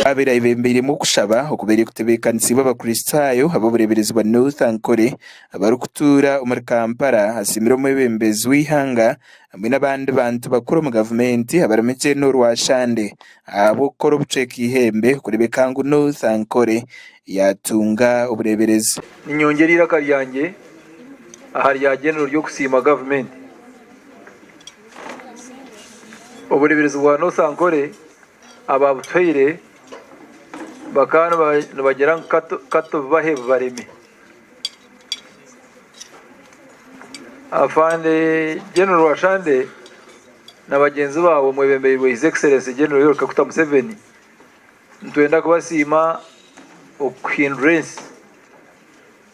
Abaire ayebeembeiremu okushaba okubaire kutebeekaniisiibwe Abakristaayo ab'obureeberezi bwa North Ankole abarikutuura omuri Kampala asiimire omwebembezi w'eihanga hamwe n'abandi bantu bakuru omu gavumenti abarimu Gen Rwashande ahabw'okukora obucweka eihembe kureebeka ngu North Ankole yaatunga obureeberezi. Ninyongyera eiraka ryangye aha rya Genero ry'okusiima gavumenti. Obureeberezi bwa North Ankole abaabutuhaire bakaba nibagira ngu ka tububahe bubareme. Afande General Rwashande na bagyenzi baabo mwebembeirwe His Excellency General Yoweri Kaguta Museveni, nitwenda kubasiima okuhindura ensi.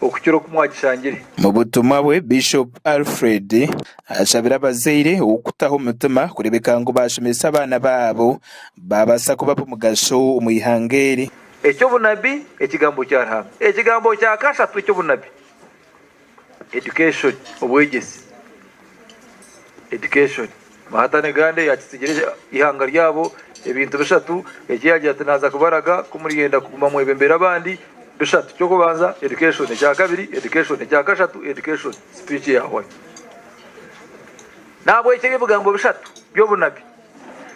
okukira oku mwagishangire. Mu butumwa bwe, Bishop Alfred ashabire abazaire okutaho omutima kureebeka ngu baashomesa abaana baabo baabaasa kuba ab'omugasho omu ihanga eri. Eky'obunabi, Ekigambo kya Ruhanga. Ekigambo kya kashatu eky'obunabi, Education, Obwegyesi, Education. Marta ne Gande yaakitsigire eihanga ryabo ebintu bishatu eki yaagira ati, Naaza kubaraga ku muriyenda kuguma mwebembera abandi. Bishatu. Ky'okubanza, education. Ekya kabiri, education. Ekya kashatu, education. Speech ya Hon. N'ahabw'ekyo ebi ebigambo bishatu by'obunabi,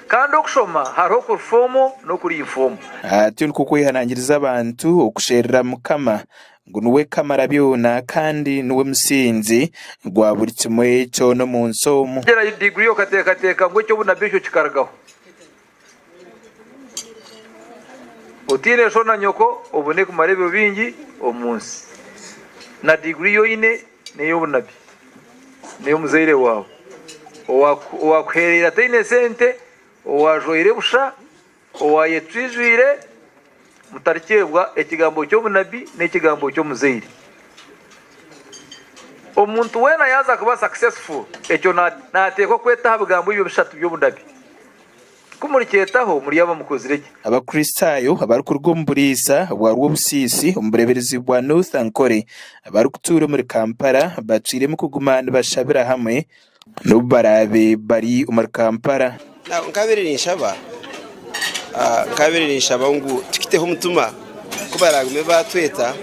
kandi okushoma hariho okuri foomo n'okuri infoomo. Atyo nikwo kwehanangiriza abantu okusherura Mukama. ngu niwe kamarabyona kandi niwe musingi gwa buri kimwe kyona omu nsi omu. Tegyerayo diguri y'okateekateeka ngu eky'obunabi ekyo kikarugaho. Otaine sho na nyoko obone kumara ebiro bingi omu nsi. Na diguri ei oine n'ey'obunabi, n'ey'omuzaire waawe owaakuheereire ataine sente, owaajwaire busha, Owaayetwijwire, mutarikyebwa ekigambo ky'obunabbi n'ekigambo ky'omuzaire. Omuntu weena yaaza kuba successful, ekyo naateekwa kweta aha bigambo ebyo bishatu by'obunabbi. Ku murikyetaho, muryaba mukozire gye. Abakristaayo abarikuruga omu buraisa bwa Rwobusiisi omu bureeberezi bwa North Ankole abarikutuura omuri Kampala bacwiremu kuguma nibashabira hamwe N'obu baraabe bari omuri Kampala. Nkabaire ninshaba nkabaire ninshaba ngu tukiteho omutima ku baragume batweta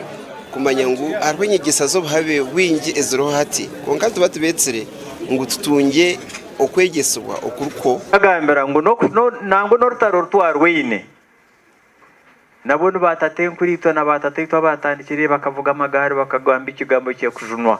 kumanya ngu hariho enyegyesa z'obuhabe bwingi eziriho hati kwonka nituba tubetsire ngu tutungye okwegyesibwa okuri kwo. Nkagambira ngu nangwa n'orutaro oru twarwaine nabwo ni ba tata enkuraitwe na ba tataitwe abaatandikire bakavuga amagaari bakagamba ekigambo ky'ekujunwa